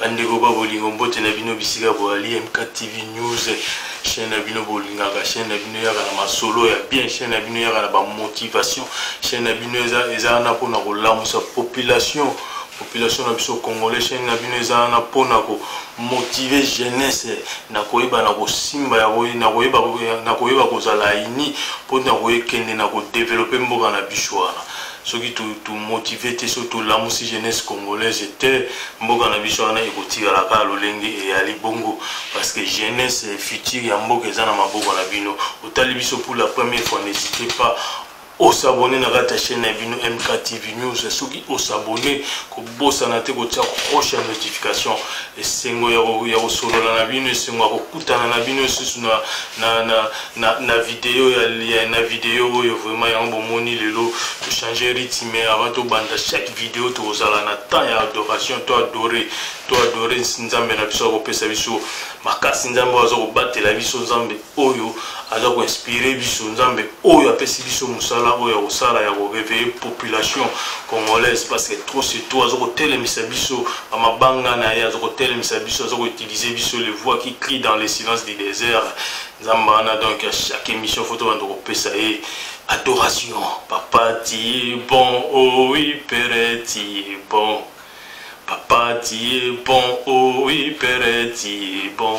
bandeko ba bolingo mbote na bino bisika boali mktv news chaîne na bino bolingaka chaîne na bino yaka na masolo ya bien chaîne na bino yaka na bamotivation chaîne na bino eza wana mpona kolamusa population population na biso congolais chaîne na bino eza wana mpona komotive jeunesse na koyeba na kosimba na koyeba kozala ini mpo na koyekende na kodevelope mboka na biso wana soki to to motiver te soki to lamusi jeunesse congolaise te mboka na biso wana ekotikala kaka lolenge eyali bongo parce que jeunesse future ya mboka eza na maboko na bino otali biso pour la première fois n'hésitez pas osabone na kati ya chaîne na bino mktv news soki osabone bosana te kotia cloche ya notification esengo ya kosolola na bino esengo ya kokutana na bino lisusu na, na, na, na, na video ya, ya, na video oyo vraiment yango bomoni lelo tochange rythme avant tobanda chaque video tokozala na temps ya adoration to adore to adore nzambe na biso akopesa biso makasi nzambe oyo aza kobatela biso nzambe oyo aza ko inspire biso nzambe oyo apesi biso mosala oyo ya kosala ya koreveille population congolaise parce que trop c'est trop aza kotelemisa biso bamabanga na ye aza kotelemisa biso aza koutilize biso le voix qui crie dans le silence du désert nzambe wana donc ya chaque émission fo tobanda kopesa ye adoration papa ti bon oh oui pere ti bon papa ti bon oh oui pere ti bon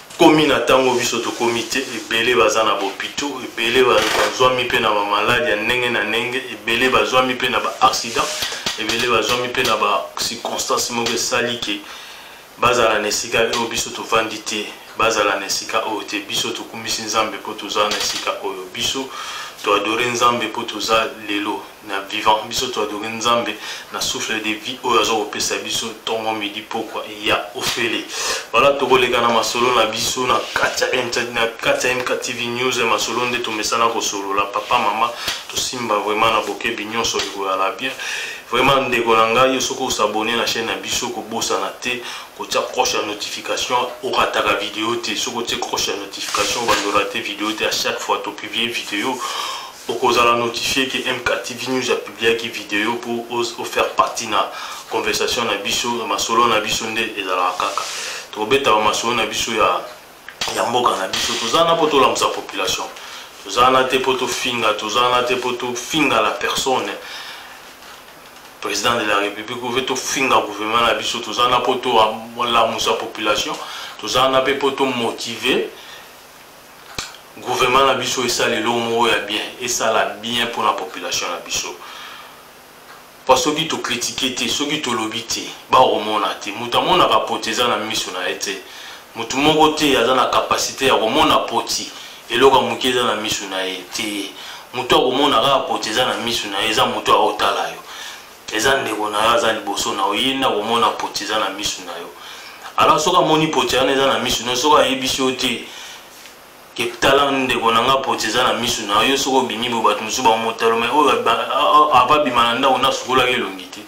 komi na ntango biso tokomi te ebele baza na bopito ebele bazwami mpe na bamaladi ya ndenge na ndenge ebele bazwami mpe na baaccident ebele bazwami mpe na bacirconstance moko esali ke bazala na esika oyo biso tovandi te bazala na esika oyo te biso tokumisi nzambe mpo toza na esika oyo biso toadore nzambe mpo toza lelo na vivant biso to adore nzambe na souffle de vie oyo aza kopesa biso ntongo midi pokwa ya ofele wana tokoleka na masolo na biso na kati ya mktv news masolo nde tomesana kosolola papa mama tosimba vraiment na bokebi nyonso ekoyala bien vraiment ndeko na ngai yo soki osabone na chaîne na biso kobosana te kotia croche ya notification okataka video te soki otie croche ya notification bandora te video te à chaque fois topublie video Okozala notifier que MKTV News a publiaki video pour o faire partie na conversation na biso, masolo na biso nde ezalaka kaka. Tokobeta ba masolo na biso ya ya mboka na biso. Toza na po tolamusa population. Toza na te po tofinga, toza na te po tofinga la personne président de la république oyo tofinga gouvernement na biso toza na mpo tolamusa population toza na mpe mpo tomotive gouvernement na biso esala eloko moko ya bien esala bien mpo na population na biso mpo soki tokritike te soki tolobi te bakomona te moto amonaka poti eza na miso na ye te moto moko te aza na kapasite ya komona poti eloko ya moke eza na miso na ye te moto akomona kaka poti eza na miso na ye eza moto aotala yo eza ndeko na yo aza liboso na yo ye nde akomona poti eza na misu na yo alors soki amoni poti wana eza na misu na yo soki ayebisi yo te ketala ndeko na nga poti eza na misu na yo soki obimi bo bato mosusu bamotalo mai oyo ababima na ndako nasukolaki elongi te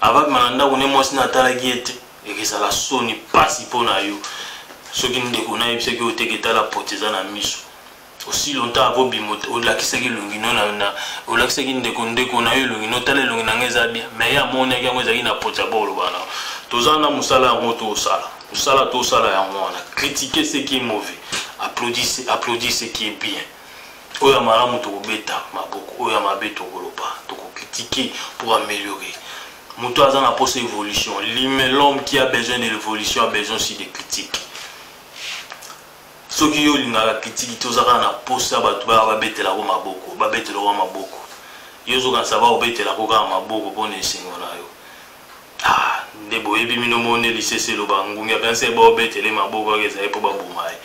ababima na ndako ne mwasi natalaki ye te ekezala soni mpasi mpo na yo soki ndeko nayebisaki oyo te ketala poti eza na misu aussi longtemps ako bimo olakisaki elongi no na olakisaki ndeko ndeko na yo elongi no tala elongi na ngai eza bien mais ye amonaki yango ezalaki na pota bo oloba na toza na mosala yango tosala mosala tosala yango wana critique ce qui est mauvais applaudisse applaudisse ce qui est bien oyo ya malamu tokobeta maboko oyo ya mabe tokoloba tokokritike pour améliorer moto aza na mposa évolution l'homme qui a besoin de l'évolution a besoin aussi de critique soki yo olingaka kitiki te oza kaka na mposa bato baya babetelako maboko babetelako maboko yo ozokanisa baobetelako kaka maboko mpo na esengo na yo ah, nde boyebi mino moko nde lisese eloba ngungi akanisi ye baobetele maboko yaka ezali mpo baboma ye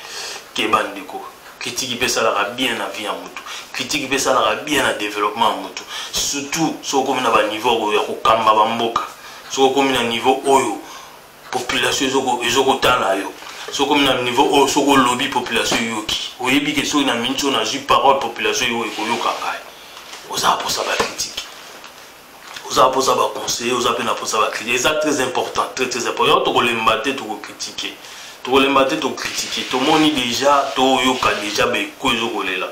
keba ndeko kritiki mpe esalaka bien na vie ya motu kritiki mpe esalaka bien na développement ya motu surtout soki okomi na baniveau ya kokamba bamboka soki okomi na niveau oyo population ezo kotala yo soki omi na niveau oyo soki olobi population eyoki oyebi ke soki na miniti oyo nazwi parole population yo ekoyoka ngai oza mposa bakritike oza mposa baconseiller oza mpe na mposa bakritike eza très important très très important yango tokolemba te tokokritike tokolemba te tokritike tomoni déjà toyoka déjà beko ezokolela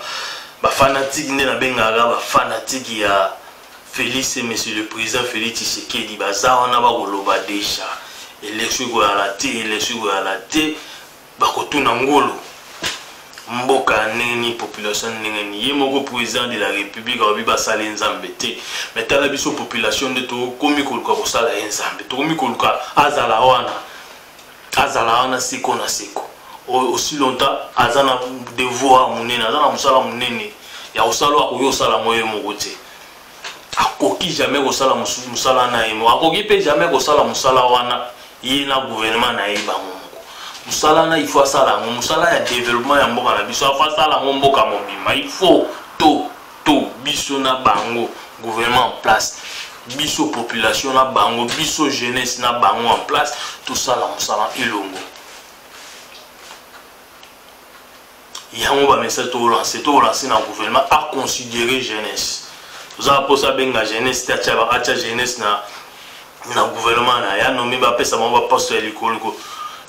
bafanatike nde nabengaka bafanatike ya Felix et monsieur le président Felix Tshisekedi baza wana bakoloba deja election ekoyala te election ekoyala te bakotuna ngulu mboka ya ndenge nini population ya ndenge nini ye moko président de la république alobi basali nzambe te mais tala biso population nde tokomi koluka kosala ye nzambe tokomi koluka azala wana azala wana seko na seko aussi longtemps aza na devoir monene aza na mosala monene ya kosala oyo akoki kosala yango ye moko te akoki jamais kosala mosala na ye moko akoki mpe jamais kosala mosala wana ye na gouvernement na ye bango moko mosala na ifo asala yango mosala ya développement ya mboka na biso afo asala yango mboka mobimba ifo to to biso na bango gouvernement en place biso population na bango biso jeunesse na bango en place tosala mosala elongo yango bamessage tokolanse tokolanse na gouvernement aconsidere jeunesse toza na mposa abenga jeunesse te atya jeunesse na na gouvernement na ya nomi bapesa bango baposte ya likolo ko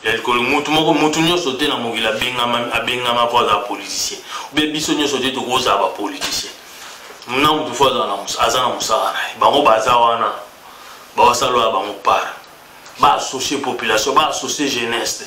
ya likolo mutu moko mutu nyonso te na mokili abengama abengama mpo azala politicien obe biso nyonso te tokozala bapoliticien na mutu fo aza na mosala na ye bango baza wana bawasalola bango par baassocie population baassocie jeunesse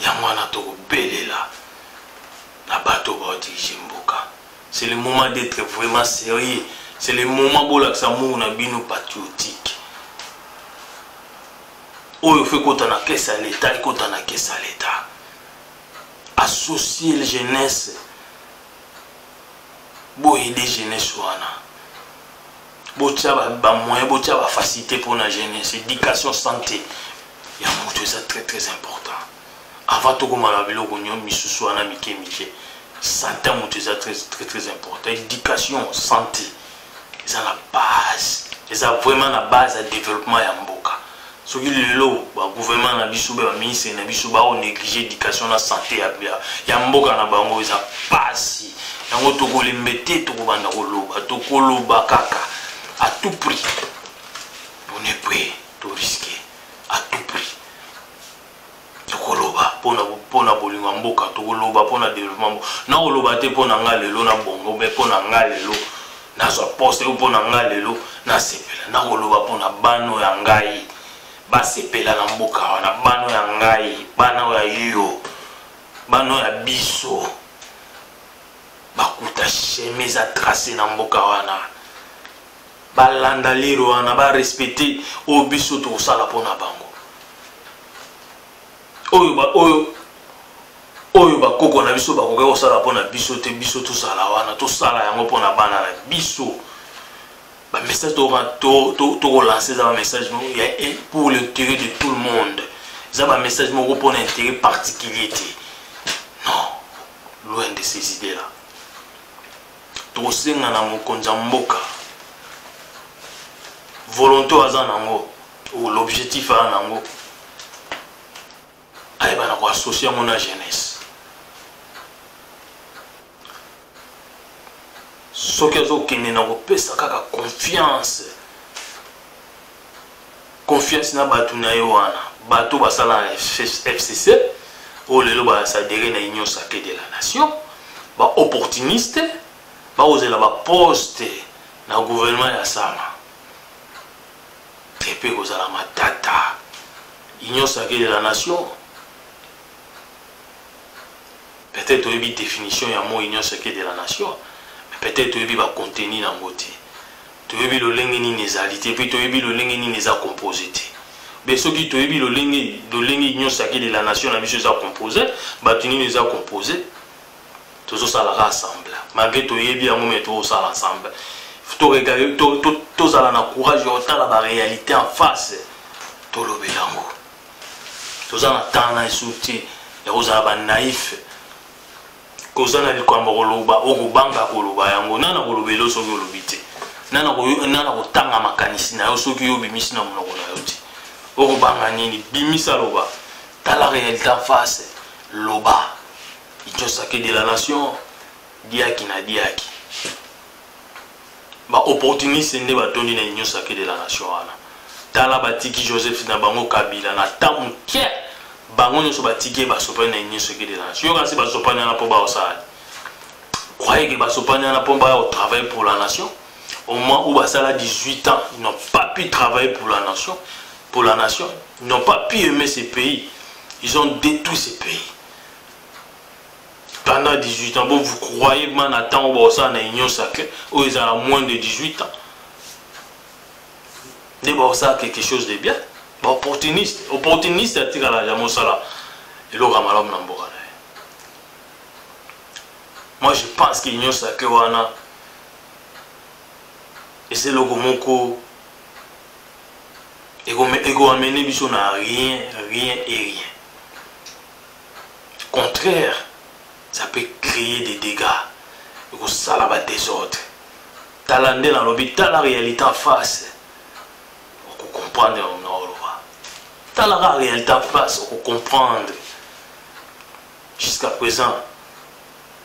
yango wana tokobelela na bato oyo baodirige mboka c'est le moment d'être vraiment sérieux c'est le moment bolakisa muu na bino patriotique oyo fo ekota na kese ya leta ekota na kese ya leta associe le jeunesse boyede jeunesse wana botya bamoyen botya bafacilité mpona jeunesse éducation santé ya moto eza très très important avant tokoma na biloko nyo misusu wana mike mike santé ya moto eza très très très important éducation santé eza na base eza vraiment na base ya développement ya mboka soki lelo ba gouvernement na biso ba ministre na biso ba neglige éducation na santé ya, ya, ya mboka na bango eza pasi yango tokolembe te tokobanda koloba tokoloba kaka à tout prix on est prêt to risquer à tout prix tokoloba mpo na bolingo ya mboka tokoloba mpo na développement mboka nakoloba te mpo na ngai lelo na bongo me mpo na ngai lelo nazwa poste oyo mpo na ngai lelo nasepela nakoloba mpo na bana oyo ya ngai basepela na mboka wana bana oyo ya ngai bana oyo ya yo bana oyo ya biso bakuta sheme eza trace na mboka wana balanda lero wana barespecte oyo biso tokosala mpo na bango oyo ba oyo oyo bakoko na biso bakoki kosala mpo na biso te biso tozala wana tosala yango mpo na bana na biso bamessage tokolanse eza bamessage pour l'intérêt de tout le monde eza bamessage moko mpo na intérêt particulier te non loin de ces idées là tokosenga na mokonzi ya mboka volonté oyo aza nango ou l'objectif a nango ayeba na ko associer yango na jeunesse soki azokende na kopesa kaka confiance confiance na bato na ye wana bato basala na fcc oyo lelo basadere na union sacré de la nation baopportuniste bakozela baposte na gouvernement ya sama te mpe ekozala matata union sacrée de la nation peut-être oyebi définition ya mot union sacrée de la nation mais peut-être toyebi bacontenu na yango te toyebi lolenge nini ezali te mpe toyebi lolenge nini eza compose te be soki toyebi lolenge lolenge union sacrée de la nation na biso eza compose bato nini eza compose tozosalaka ensemble malgré toyebi yango me tozosala ensemble tozala na courage ya kotala baréalité en face tolobela yango toza na temps na esu te ya kozala banaïfe koza na likambo koloba okobanga koloba yango nani akolobela yo soki olobi te nani akotanga makanisi na yo soki yo obimisi na monoko na yo te okobanga nini bimisa loba tala réalité en face loba Ichosake de la nation diaki na diaki ba opportuniste nde batondi na union sacrée de la nation wana tala batiki joseph na bango kabila na ta moke bango nyonso batiki ye basopani na union sacrée de la nation yoka nse basopani wana mpo baosala croyez que basopani wana mpo baya kotravaille pour la nation au moins où basala 18 ans ils n'ont pas pu travailler pour la nation pour la nation ils n'ont pas pu aimer ce pays ils ont détruit ce pays pendant 18 ans bon vous croyez man na ntango bakosala na union sacré oyo ezala moins de 18 ans nde bakosala quelque chose de bien baopportuniste opportuniste atikala ya mosala eloko ya malamu na mboka na ye moi je pense que union sacré wana eza eloko moko ekoamene biso na rien rien et rien contraire ça peut créer des dégâts ekosala ba désordre tala nde nalobi tala réalité en face okocomprendre yango nga oloba talaka réalité en face okocomprendre jusqu'à présent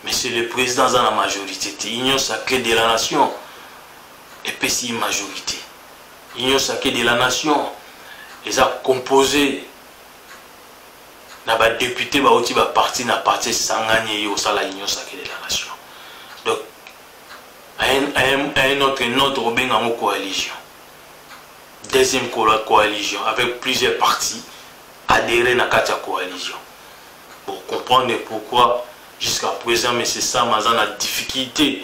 monsieur le président aza na majorité te union sacrée de la nation epesi ye majorité union sacrée de la nation eza composé na ba depute bauti ba parti na parti esangani eye osala union sacré de la nation donc un autre notre obenga yango coalition deuxième coalition avec plusieurs partis adhéré na kati ya coalition pour comprendre pourquoi jusqu'à présent m sama aza na difficulté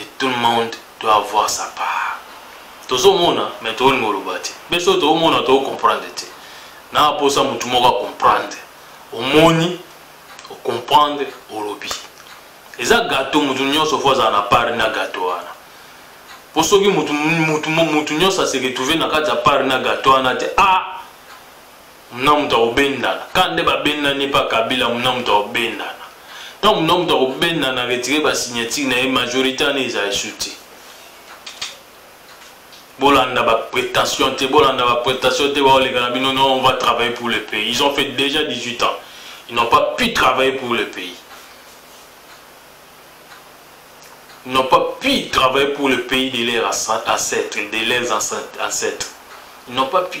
et tout le monde doit avoir sa part tozomona mais tolingi oloba te biso oyo toomona toocomprendre te na aposa motu moko acomprendre omoni ocomprendre olobi eza gato motu nyonso fo azala na pari na gato wana mpo soki motu nyonso aseretrouve na kati ya pari na gato wana te a ah! muna moto akobendana ka nde babendani mpa kabila muna moto akobendana ntango muna moto akobendana retire basignature na ye majorité wana eza esu te bolanda baprétention te bolanda baprétention te baoleka na bino non on va travailler pour le pays ils ont fait déjà 18 ans ils n'ont pas pu travailler pour le pays ils n'ont pas pu travailler pour le pays de leurs ancêtres de leurs ancêtres ils n'ont pas pu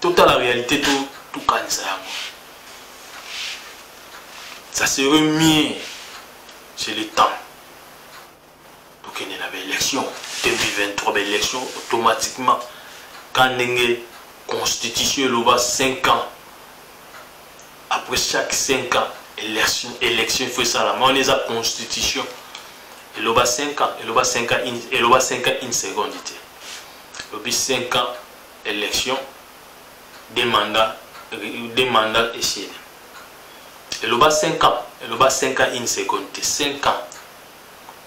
totala réalité to tokanisa yango ça serait mieux c'est le temps tokende na baélection 2023 baélection automatiquement ka ndenge constitution eloba 5 ans après chaque 5 ans élection élection faut ça la on les a constitution eloba 5 ans eloba 5 ans eloba 5 ans une seconde lobi 5 ans élection deux mandats deux mandats esili eloba 5 ans eloba 5 ans une seconde te 5 ans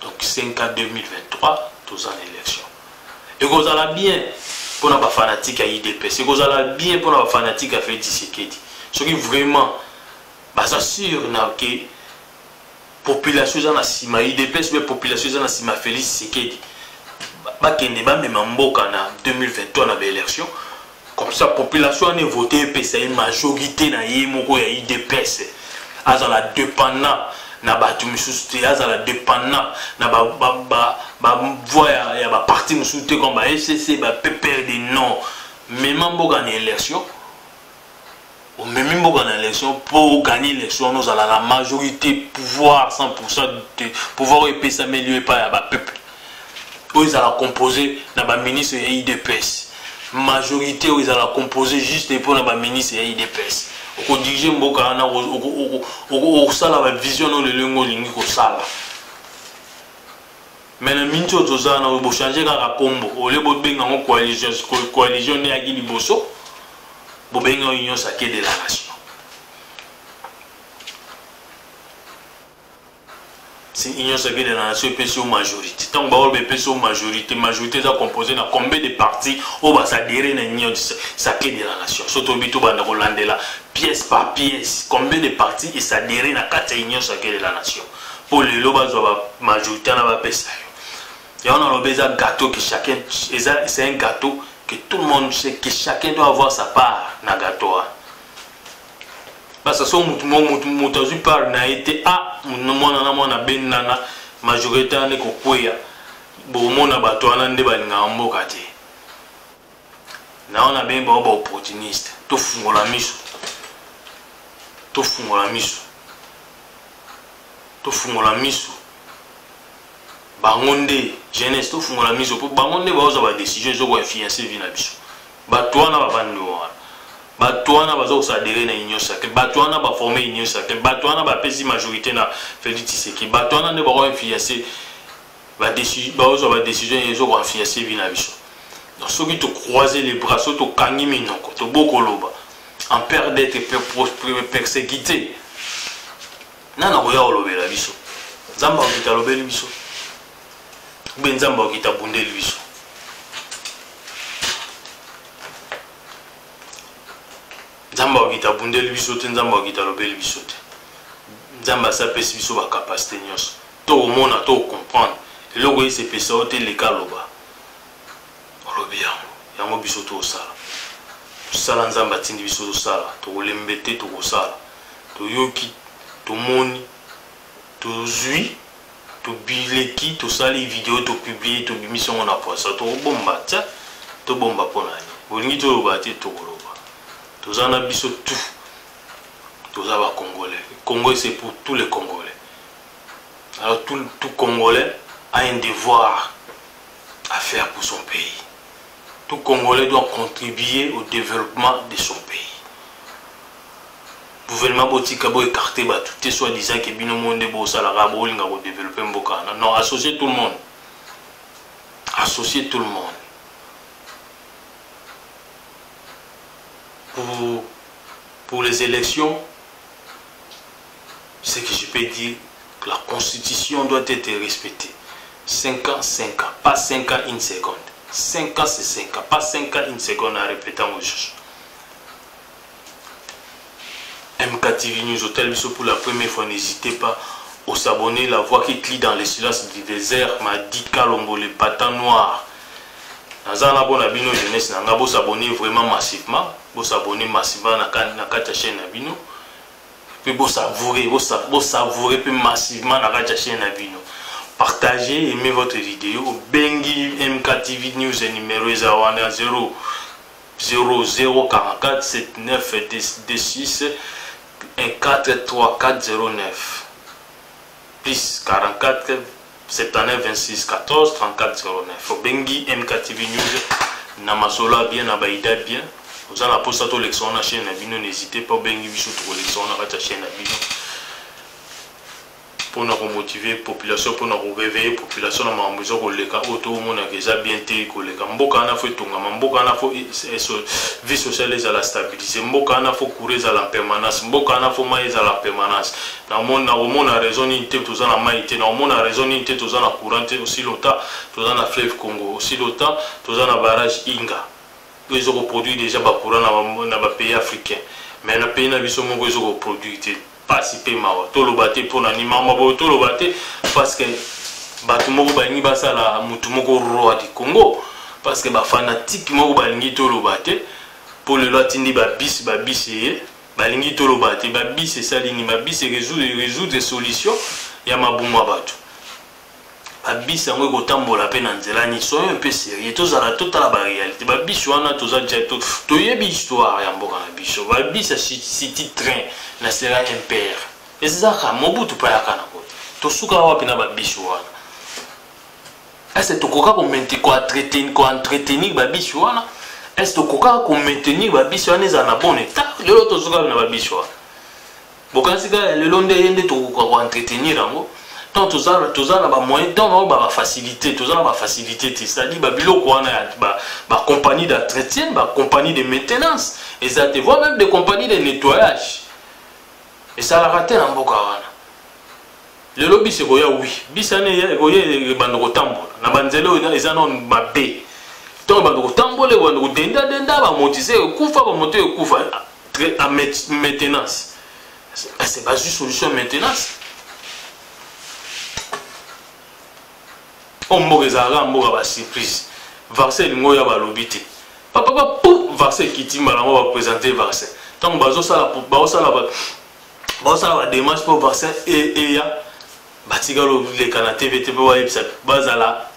donc 5 ans 2023 toza na élection ekozala bien mpo na bafanatike ya idps ekozala bien mpo na bafanatike ya feti sekedi soki vraiment baza sur na ke population eza na nsima udps mpe population eza na nsima félix sekedi bakende bamema mboka na 2023 na baélection comme ça population wana evote epesa ye majorité na ye moko ya udps azala dépendant na bato mosusu te azala dépendant na bavoi ya baparti mosusu te comme ba fcc ba pprd non mema mboka na élection omemi mboka na élection mpo oganye élection wana ozala na majorité pouvoir 100% de pouvoir oyo epesameli yo epai ya bapeuple oyo ezala compose na baministre ya idps majorité oyo ezala compose juste mpo na baministre ya idps okodirige mboka wana okosala bavision na olelo yango olingi kosala Mais na minti oyo tozala na bochange kaka kombo olie bobenga yango coalition sikoyo coalition nde yaki liboso bobenga yango union sake de la nation si union sake de la nation epesi yo majorité ntango baoyo bepesi yo majorité majorité eza composé na combien de parti oyo basadere na union sake de la nation so toyebi tobanda kolandela pièce par pièce combien de parti esadere na kati ya union sake de la nation mpo lelo bazwa ba majorité wana bapesa yo yango naloba eza gâteau que chacun eza c'est un gâteau que tout le monde sait que chacun doit avoir sa part na gâteau wana basaso motu mo motu motu azwi part na ye te a mwana na mwana benana majorité wana ekokweya bokomona bato wana nde balingaka mboka te naona bemba oyo baopportuniste tofungola miso tofungola miso tofungola miso bango nde jeunesse tofungola miso mpo bango nde baozwa badécision ezo koinfluence vi na biso bato wana bavandi wana bato wana baza kosadere na union sacré bato wana baforme union sacré bato wana bapesi majorité na félix tshiseki bato wana nde bakoinfluence baozwa badecision ezo koinfluence vi na biso donc soki tocroise les bras soki tokangi minoko tobo koloba en père d'être persécuté nani akoya kolobela biso nzambe akokita alobeli biso ube nzambe akokita abundeli biso nzambe akokita abundeli biso te nzambe akokita alobeli biso te nzambe asi apesi biso bacapacité nyonso To omona to comprendre eloko esi epesa yo te leka loba olobi yango yango biso tosala mosala nzambe atindi biso tosala tokolembe te tokosala toyoki tomoni tozwi tobileki tosali video topiblie tobimisi yango na poisa tokobomba te tobomba mpo na nini bolingi toloba te tokoloba toza na biso tout toza bacongolais congo ese pour tous les congolais Alors tout, tout Congolais a un devoir à faire pour son pays. Tout Congolais doit contribuer au développement de son pays. gouvernement botika bo écarte bato te soit disant ke bino mo nde bosalaka bolinga kodeveloppe mboka wana non associe tout le monde associe tout le monde pour, pour les élections ce que je peux dire la constitution doit être respectée 5 ans 5 ans pas 5 ans une seconde 5 ans c'est 5 ans pas 5 ans une seconde en répétant au juge MKTV News Hotel Bisso pour la première fois n'hésitez pas aux s'abonner la voix qui crie dans le silence du désert m'a dit Kalombo le patin noir naza na bona bino jeunesse na nga bosabone vraiment massivement bosabone massivement na kati ya chaîne na bino mpe bosavoure bosavoure mpe massivement na kati ya chaine na bino partage aime votre video obengi mktv news numero eza wana 0 00447926 14349 plus 44 79 26 14 34 09 obengi mktv news na masolo ya bien na baida bien oza na mposa tolekisa wana chaine na bino n'hésite pas obengi biso tokolekisa wana kati ya chaine na bino mpona komotive population mpona koreveille population na makambo eza koleka oyo tomonaka eza bien te koleka mboka wana fo etongama mboka wana fo e, e, e, vie sociale ezala stabilise mboka wana fo coura ezala permanence mboka wana fo mai ezala permanence Na moni na komona raison nini te toza na mayi te, na komona raison nini te toza na courant te aussi longtemps toza na fleuve Congo, aussi longtemps toza na barrage Inga oyo ezo ko produire dejà ba courant na ba, na ba pays africains mais na pays na biso moko ezo ko produire te. Pasi pe mawa. Toloba te pona nini makambo ya boye, toloba te parce que bato moko balingi basala moto moko roi du Congo parce que ba fanatique moko balingi toloba te po lelo atindi ba bis ba bis eye balingi toloba te ba bus esali nini ba bus résoudre résoudre solution ya mabumu ya bato ba bus yango ekotambola mpe na nzela nini soyo mpe serie tozala totala ba réalité ba bus wana toza ja toyebi histoire ya mboka na biso ba bus ya city train na sera impere ezaka mobutu mpe ayaka na kote tosuka wapi na ba bus wana est-ce que tokoka koentretenir babisi wana est-ce que tokoka komaintenir babisi wana ezala na bon état lelo tozokaka na babisi wana bokanisi kaka lelo nde ye nde tokoka koentretenir yango donc toza na bamoyen donc nao bafacilité toza na bafacilité te c'est-à-dire babiloko wana ya bacompagnie d'entretien bacompagnie de maintenance eza te voi même de compagnie de nettoyage esalaka te na mboka wana lelo bisi ekoya wi bisi wana ekoya ebanda kotambola na banzela oyo eza nao mabe ntango ebanda kotambola ebanda kodendadenda bamotise ekufa bamoto ekufa en maintenance ase bazwi solution ya maintenance oyo mboka ezalaka mboka basurprise vaccin elingo oyo ya balobi te papapa pu vaccin ekiti mbala yango bapresente vaccin ntango bazosala basala ba démarche mpo vaccin eya batikala oleka na tv te mpo bayebisa bazala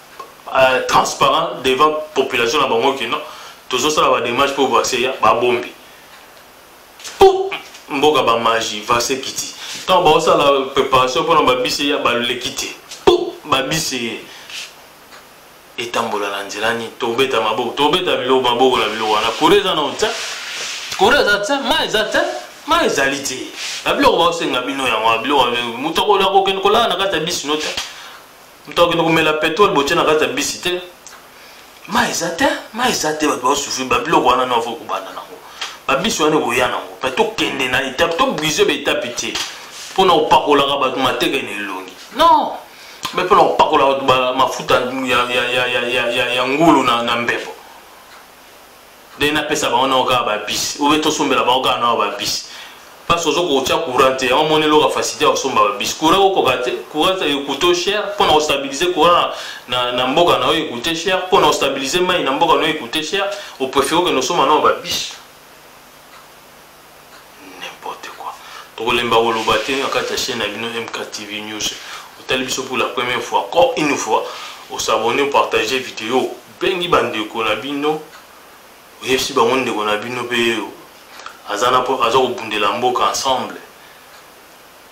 euh, transparent devant population na bango kino tozosala ba démarche mpo vaccin eya babombi mpo mboka bamagi vaccin ekiti ntango baosala préparation mpona babisi eya baleki te mpo babisi eye etambola na nzela nini tobeta maboko tobeta biloko maboko na biloko wana kura eza na otya kura eza te mai eza te mai ezali te na biloko baosenga bino yango biloko moto akola kokende kolala na kati ya bisi no te moto akokende komela petrole botye na kati ya bisi te mai eza te mai eza te bato baosufri babiloko wana no avoki kobanda nango babisi wana ekoya nango mpe tokende na etape tobrise baetape te mpo na kopakolaka bato mateka ena elongi non mpe mpo na kopakola bato mafuta ya ngulu na mbepo nde napesa bango nao kaka babisi obe tosombela bango kaka nao babisi mpasi ozo kotya courant te yango moni eloka facilité ya kosomba babisi courant okoka te courant ekoute cher mpo na kostabilize courant na, na mboka na yo ekoute cher mpo na kostabilize mai na mboka na yo ekoute cher oprefere okende osomba nao babisi N'importe quoi. Tokolemba koloba te na kati ya chaîne na bino MKTV News. Otali biso pour la première fois, encore une fois, au s'abonner, au partager vidéo. Bengi bandeko na bino, oyebisi bango ndeko na bino pe aza na po aza kobundela mboka ensemble.